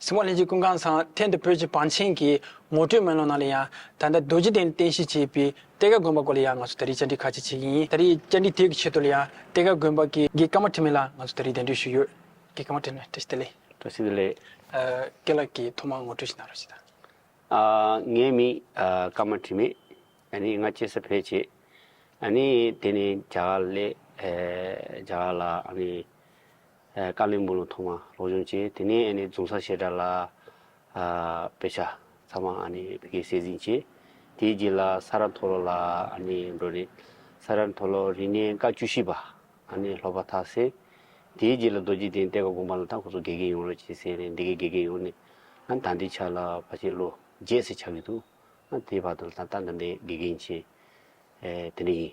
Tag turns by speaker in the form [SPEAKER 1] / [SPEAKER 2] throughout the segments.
[SPEAKER 1] གསང་བ་ལྷན་སྐྱེས་ཀུན་ཁང་ཚང་ཐེན་དུ་བོད་ཀྱི་བང་ཆེན་གྱི་ངོ་སྤྲོད་སྨོན་ལམ་གནང་ལ་ཡང་ད་ལྟ་རྡོ་རྗེ་གདན་རྟེན་གཞི་བྱས་པའི་གཏེར་ཁ་དགོན་པ་སྐོར་ལ་ཡང་ང་ཚོ་ད་རེས་བཅར་འདྲི་ཁ་ཅིག་བྱེད་ཀྱི་ཡིན་ད་རེས་བཅར་འདྲི་དེ་གི་ཆེད་དུ་ལ་ཡང་གཏེར་ཁ་དགོན་པ་གི་དགེ་བཀའ་མ་ཁྲི་མེད་ལ་ང་ཚོ་ད་རེས་གདན་འདྲི་ཞུས་ཡོད། དགེ་བཀའ་མ་ཁྲི་མེད་བཀྲ་ཤིས་བདེ་ལེགས། བཀྲ་ཤིས་བདེ་ལེགས། སྐལ་ལགས་ཀྱིས་ཐོག་མར་ངོ་སྤྲོད་ཞིག་གནང་རོགས་ཞེས་དང།
[SPEAKER 2] ངའི་མིང་བཀའ་མ་ཁྲི་མེད། ནི་ང་སྐྱེས་ས་བོད་ཆེ། ནི་དེ་ནི་རྒྱ་གར་ལས། རྒྱ་གར་ལ་ནི། དཀའ་ལས་མུ་ལོ་མཐོང་མ་རོགས་བྱུང་བཅས་དེ་ནས་ཨ་ནེ་རྫོང་ས་བཤད་གྲྭ་ལ་དཔེ་ཆ་ཚང་མ་ཨ་ནེ་བི་ཀའི་སྲས་ཟིན་བྱས། དེའི་རྗེས་ལ་ས་རཱ་མཐོ་ལོ་ལ་ཨ་ནེ་འགྲོ་རེད། ས་རཱ་མཐོ་ལོ་རིག་གནས་བཀའ་བཅུ་བཞི་པ་ཨ་ནེ་སློབ་པ་ཐག་བསད། དེའི་རྗེས་ལ་རྡོ་རྗེ་གདན་གཏད་ཀ་དགོངས་པ་ལ་ད་ཁོ་ཚོ་དགེ་རྒན་ཡོང་རོགས་བྱས་ཟེར་ནས་འདི་གའི་དགེ་རྒན་ཡོང་ནས་ཨ་ད་འདི་ཆ་ལ་བ་ཆེ་ལོ་བརྒྱད་ཟེར་ཆགས་ཀྱི་འདུག་ཨ་དེའི་བར་དུ་ལ་ད་ད་འདི་འདྲའི་དགེ་རྒན་བྱས། དེ་འདྲ་ཡིན།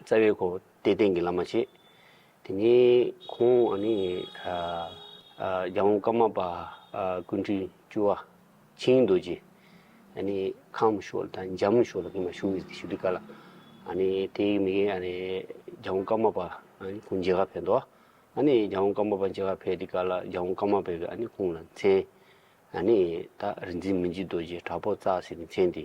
[SPEAKER 2] རྩ་བའི་གོ་བདེ་ལྡན་གྱི་བླ་མ་བྱེད། དེ་ནས་ཁོང་ཨ་ནི་རྒྱ་དབང་བཀའ་མ་པ་ཀུན་འཕྲིན་བཅུ་བ་ཆིངས་རྡོ་རྗེ་ཨ་ནི་ཁམས་བཞུགས་ལ་དང་འཇམ་བཞུགས་ལ་གིང་མ་བཞུགས་ཡོད་དེ་ཞུ་བདེ་ཀ་ལ་ཨ་ནི་དེ་ཡི་མིག་ཨ་ནི་རྒྱ་དབང་བཀའ་མ་པ་ཀུན་མཇལ་ཁ་ཕེབས་འདུག་ཨ་ནི་རྒྱ་དབང་བཀའ་མ་པ་མཇལ་ཁ་ཕེབས་དེ་ཀ་ལ་རྒྱ་དབང་བཀའ་མ་པས་ཨ་ནི་ཁོང་ལ་མཚན་ཨ་ནི་ད་རིག་འཛིན་མི་འཇིགས་རྡོ་རྗེ་དྲག་པོ་རྩ་ཟེར་གྱི་མཚན་དེ།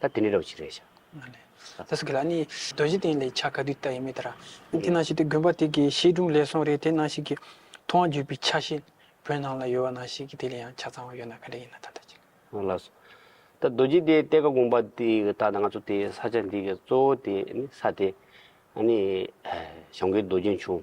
[SPEAKER 2] ད་དེ་ནས་རོགས་ཅིག་རེད་བྱ། ད་སུ་གི་
[SPEAKER 1] ལ་ནི་རྡོ་རྗེ་གདན་ལས་ཕྱག་ག་དུས་ལྟ་ཡི་མེད་ད་ར། དེ་ནང་ཞིག་དེ་དགོན་པ་དེ་གི་བཤད་སྒྲུང་ལས་སོང་རེད་དེ་ནང་ཞིག་གི་ཐུ་བ་འཇུས་པའི་ཆ་ཤས་བོད་ནང་ལ་ཡོད་བ་ནང་ཞིག་གི་དེ་ལས་ཡང་ཆ་ཚང་བ་ཡོད་ན་ག་རེ་ཡིན་ན་ད་ལྟ་ཅིག། ང་ལ་སོ།
[SPEAKER 2] ད་རྡོ་རྗེ་གདན་གཏེར་ཁ་དགོན་པ་དེ་གི་ད་ད་ང་ཚོ་དེ་ས་ཆ་འདི་གི་གཙོ་བོ་དེ་ནི་ས་དེ་ནི་ཞང་ཀེ་རྡོ་རྗེ་འབྱུང་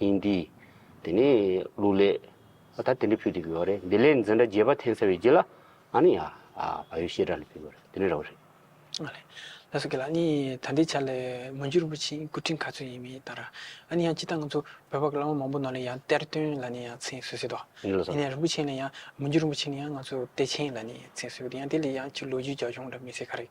[SPEAKER 2] ཡིན་འདི། དེ་ནས་ལུག་ལས། ཨ་ད་དེ་འདྲ་ཕུལ་དུ་གྱུར་བ་རེད་འདི་ལས་འཛིན་གྲྭ་རྒྱས་པ་འཐེན་ཟེར་བའི་རྗེས་ལ། ཨ་ནི་ཡ། བ་ཡོད་ཤེས་གྲྭ་ནས་ཕུལ་བ་རེད་དེ་ནས་ར་བ་རེད། ཨ་ལས།
[SPEAKER 1] ལ་སོགས་ཀྱི་ལ་ནི་ད་འདི་ཆ་ལས་མ་འགྱུར་བ་ཕྱིན་སྐུ་དྲིན་ག་ཚོད་ཡིན་མིན་ལྟར། ཨ་ནི་ཡང་སྤྱི་ལྟར་ང་ཚོ་བོད་པ་གི་བླ་མ་མང་པོ་ནང་ལས་ཡང་གཏེར་སྟོན་ལ་ནི་ཡང་མཚན་གསོལ་སྲིད་དོ། ནི་ལ་སོགས། དེ་ནས་རིན་པོ་ཆེ་ལ་ཡང་མ་འགྱུར་བ་ཕྱིན་ཡང་ང་ཚོ་གཏེར་ཆེན་ལ་ནི་མཚན་གསོལ་གྱི་ཡང་དེ་ལས་ཡང་ཕྱིར་ལོ་རྒྱུས་རྒྱ་གཞུང་འདྲ་མི་གསལ་ཁ་རེད།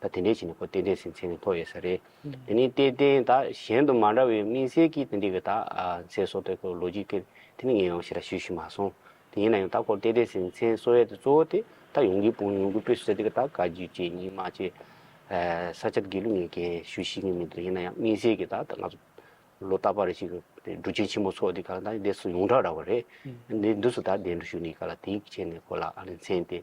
[SPEAKER 2] ད་དེ་འདྲའི་ཆེད་ནས་ཁོ་རྟེན་འབྲེལ་ཟིན་ཚད་ནི་མཐོ་ཡོད་ས་རེད། དེ་ནི་རྟེན་རྟེན་དག་གཞན་དུ་མ་འདྲ་བའི་དམིགས་བསལ་གྱིས་དེ་འདྲི་བའི་དག་མཚན་སོགས་དེ་ཁོའི་ལོ་རྒྱུས་སྐད་དེ་ནི་ངས་ཡང་ཞེ་དྲག་ཞུས་ཤི་མ་སོང། དེ་ཡིན་ན་ཡང་ད་ཁོར་རྟེན་འབྲེལ་ཟིན་ཚད་གསོ་ཡས་དེ་གཙོ་བོ་དེ་ད་ཡོང་གི་དཔུང་ཡོང་གི་དཔེ་སུ་ཟེར་དེ་ག་དག་ག་རྒྱུ་བཅས་གཉིས་མ་བཅས་ས་ཆ་དགེ་ལུགས་ངས་འགན་ཞུས་ཤི་ངེས་མི་འདུག་ཡིན་ན་ཡང་དམིགས་བསལ་གྱིས་ད་ང་ཚོ་ལོ་རྟག་པ་རེ་ཞིག་གི་འབྲུ་ཆེན་ཆེན་མོ་ཚོ་དེ་ག་ད་འདས་སུ་ཡོངས་གྲགས་ར་བ་རེད། འདས་འདུག་སུ་ད་འདས་འགྲོ་ཞུ་ནི་ག་ལ་དེའི་ཆེད་ནས་ཁོ་ལ་ཨ་རི་མཚན་དེ་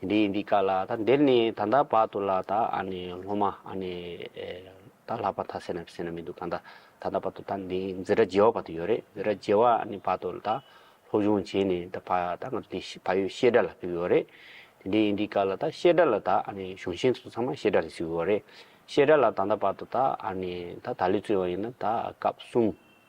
[SPEAKER 2] དེ་འདྲའི་ཡིན་དུས་དཀའ་ལ་ད་འདིར་ནི་ད་ལྟ་བར་དུ་ལ་ད་ཨ་ནི་སློབ་མ་ཨ་ནི་ད་ལྷག་པ་ད་སེ་ན་སེ་ན་མི་འདུག་ད་ད་ད་བར་དུ་ད་འདི་འཛི་ར་རྗེ་བ་བར་དུ་ཡོད་རེད་འཛི་ར་རྗེ་བ་ཨ་ནི་བར་དུ་ད་སློབ་སྦྱོང་བྱས་ནས་ད་བར་ད་ང་ཚོ་འདི་བལ་ཡུལ་ཤེས་དགྲ་ལ་ཕེབས་ཡོད་རེད་དེ་འདྲའི་ཡིན་དུས་དཀའ་ལ་ད་ཤེས་དགྲ་ལ་ད་ཨ་ནི་གཞུང་ཆེན་ཚོ་ཚང་མ་ཤེས་དགྲ་ལ་བཟི་ཡོད་རེད་ཤེས་དགྲ་ལ་ད་ད་བར་དུ་ད་ཨ་ནི་ད་ད་ལི་ཙུའི་བ་ཡིན་ན་ད་སྐབས་གསུམ་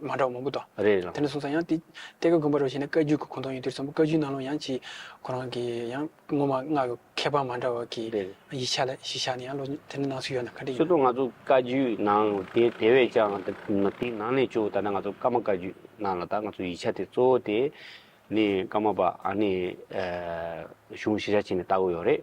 [SPEAKER 1] མ་འདྲ་བ་མང་པོ་དང། རེད་རེད་ལགས། དེ་ནས་བཟུང་ས་ཡང་དེ་གཏེར་ཁ་དགོན་པ་རུ་བཞེངས་ནས་བཀའ་བརྒྱུད་ཀྱི་གོང་ཐོག་ཡིན་དུས་ཚོམ་བུ་བཀའ་བརྒྱུད་ནང་ལུང་ཡང་ཅིག་ཁོ་རང་གི་ཡང་སྔོན་མ་སྔགས་ཀྱི་ཁྱད་པར་མ་འདྲ་བ་གི་རེད་རེད། ཡིག་ཆ་ལ་གཞི་བཞག་ནས་ཡང་ལོ་དེ་ནས་ནང་ཚུད་ཡོད་ན་ག་འདྲ་ཡིན་ཆོས་ནམ། ཐུང་ང་ཚོ་བཀའ་བརྒྱུད་
[SPEAKER 2] ནང་དེ་དེ་བས་ཀྱང་དེ་དེའི་ནང་ནས་བཅུག་ད་ནི་ང་ཚོ་བཀའ་མ་བཀའ་བརྒྱུད་ནང་ལ་ད་ང་ཚོ་ཡིག་ཆ་དེ་གཙོ་བོ་དེ་ནི་བཀའ་མ་པ་ཨ་ནི་གཞུང་ཤེས་བྱ་བྱས་ནས་བལྟ་དགོས་ཡོད་རེད།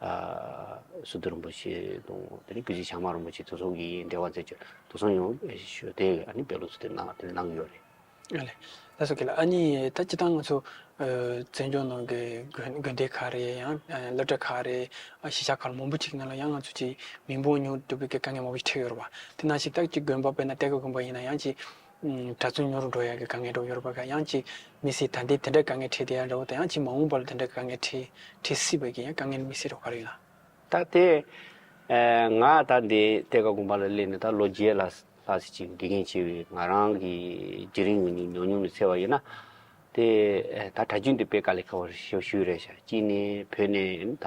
[SPEAKER 2] ཨ་སུ་དུ་རིན་པོ་ཆེ་དང་དེ་རིང་སྐུ་བཞི་བྱང་མ་རིན་པོ་ཆེ་དུ་སོང་གི་འབྲེལ་བ་མཛད་རྒྱུ་དུ་སོང་ཡང་ཞུ་དེ་ཨ་ནི་བེད་ལོག་ཚུལ་དེ་གནང་དེ་གནང་གི་ཡོད་རེད། ཨ་ལེ།
[SPEAKER 1] ད་སོ་ཁེ་ལ་ཨ་ནི་ད་ཅི་ཐང་ང་ཚོ་བཙན་སྐྱོང་ནང་གི་དགོན་སྡེ་ཁག་རེད་ཡང་སློབ་གྲྭ་ཁག་རེད་གཞིས་ཆགས་ཁག་མང་པོ་ཅིག་ནང་ལ་ཡང་ང་ཚོ་ཅིག་མི་འབོང་མྱོང་གྲུབ་ཀྱི་དཀའ་ངལ་མང་པོ་ཞིག་འཕྲད་ཡོད་རེད་བ་དེ་ནང་ཞིག་ད་ཅིག་དགོན་པ་དཔེར་ན་གཏེར་ཁ་དགོན་པ་ཡིན་ན་ཡང་ཅིག་གྲྭ་བཙུན་ཉོ་རུ་འགྲོ་ཡག་གི་དཀའ་ངལ་འགྲོ་ཡོད་རེད་པ་ག་ཡང་ཅིག་མི་སྲིད་ད་འདི་དེ་འདྲ་དཀའ་ངལ་འཕྲད་དེ་ཡང་འདྲ་བོ་ད་ཡང་ཅིག་མ་འོངས་པ་ལ་དེ་འདྲ་དཀའ་ངལ་འཕྲད་འཕྲད་སྲིད་པ་གི་ཡང་དཀའ་ངལ་མི་སྲིད་རོགས་ག་རེད་ལ། ད་དེ་
[SPEAKER 2] ང་ད་འདི་གཏེར་ཁ་དགོན་པ་ལ་སླེབས་ནས་ད་ལོ་བརྒྱད་ལ་ལྷག་ཟིག་ཅིག་དགེ་རྒན་བྱས་བས་ང་རང་གི་དེ་རིང་ངུ་ཉུག་ཉོག་ཉོག་ནས་ཚེ་བ་ཡོད་ན། དེ་ད་གྲྭ་རྒྱུན་དེ་སྤེལ་ག་ལེ་ཁ་བར་ཞུ་ཞུ་རེད་བྱ་གཅིག་ནས་བོད་ནས་ད།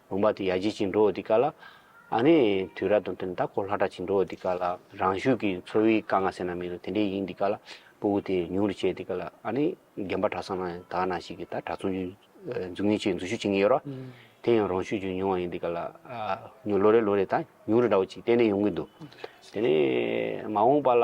[SPEAKER 2] བུམ་པ་དེ་ཡར་འགྱེལ་གྱིན་འགྲོ་འོ་དེ་ག་ལ། ཨ་ནི། དུས་རབས་དང་བསྟུན་ད་གོ་ལྷ་གྲགས་གྱིན་འགྲོ་འོ་དེ་ག་ལ། རང་ཤུགས་ཀྱིས་འཚོ་བའི་དཀའ་ངལ་སེལ་ན་མི་རུ་དེ་འདྲས་ཡིན་དེ་ག་ལ། སྤོ་བོ་དེ་ཉུང་རུ་བྱས་དེ་ག་ལ། ཨ་ནི། རྒན་པ་གྲགས་སམ་ན་ད་ན་ཞིག་གིས་ད་གྲགས་ཚོང་རྒྱུའི། འཛུགས་ངེས་ཆེད་འཛུལ་ཞུགས་བྱེད་ངེས་ཡོད་རོ། དེ་ཡང་རང་ཤུགས་ཀྱིས་ཉུང་བ་ཡིན་དེ་ག་ལ། ལོ་རེ་ལོ་རེ་ད་ཉུང་རུ་འདྲ་བོ་ཅིག་གཏན་ནས་ཡོང་གིན་འདུག་དེ་ནི། མ་འོངས་པ་ལ།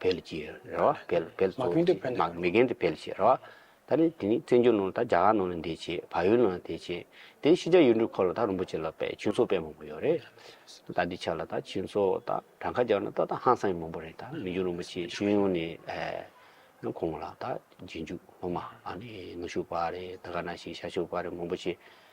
[SPEAKER 2] འཕེལ་གྱི་རེད་བ། འཕེལ་འཕེལ་མ་གན་དུ་འཕེལ་ནས་མ་གན་དུ་འཕེལ་བྱས་རེད་བ། ད་ནི་དེ་ནི་བཙན་བྱོལ་ནང་ད་རྒྱ་གར་ནང་ལ་འདས་བྱས་བལ་ཡུལ་ནང་ལ་འདས་བྱས་དེ་ཤི་ཇ་ཡུལ་འབྲུག་ཁོ་ལ་ད་རིན་པོ་ཆེ་ལ་པད་ཕྱིན་ཚོགས་པས་མང་པོ་ཡོད་རེད། ད་འདི་ཆ་ལ་ད་ཕྱིན་ཚོགས་ད་བྲང་ཁ་རྒྱག་ན་ད་ད་ཧང་སང་ཡི་མང་པོ་རེད་ད་མི་འགྱུར་རིན་པོ་ཆེ་ཤེས་ཡོན་ནི་ཨེ། ཁོང་ལ་ད་རྗེས་འཇུག་སློབ་མ་ཨ་ནི་ནུ་ཞུགས་པ་རེད་ད་ག་ན་ཞིག་ཤ་ཞུགས་པ་རེད་མང་པོ་ཆེ་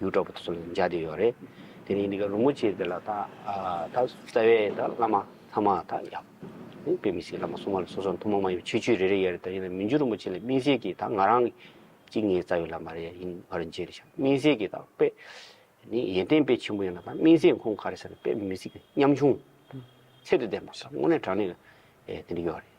[SPEAKER 2] ཡུལ་གྲོགས་པོ་དེ་ཚོ་ལ་འཇགས་ཀྱི་ཡོད་རེད། དེ་ནས་ཡིན་ནའི་རུ་མོ་ཆེ་དེ་ལ་ད་རྩ་བའི་ད་བླ་མ་ཚང་མ་ད་ཡག་པོ། དཔེ་མི་སྲིད་བླ་མ་སྲུང་མ་ལ་སོ་སོ་ལ་ཐུན་མོང་མ་ཡིན་པ་ཆོས་ཆོས་རེ་རེ་ཡོད་རེད་ད་ཡིན་ནའི་མི་འཇུ་རུ་མོ་ཆེ་ལ་སྨིན་སྲེག་གི་ད་ང་རང་གི་གཅིག་ངའི་རྩ་བའི་བླ་མ་རེད་ཡིན་ང་རང་འཇལ་རེ་བྱ་སྨིན་སྲེག་གི་ད་དཔེ། ནི་ཡོན་ཏན་དཔེ་ཆེན་པོ་ཡོད་ན་ད་སྨིན་སྲེག་ཁོང་ག་རེ་ཟེར་ན་དཔེ་མི་སྲིད་མཉམ་ཆུང། ཚད་དུ་ལྡན་པ་ད་དངོས་གནས་དྲང་གནས་ཀྱི་དེ་འདྲ་ཡོད་རེད།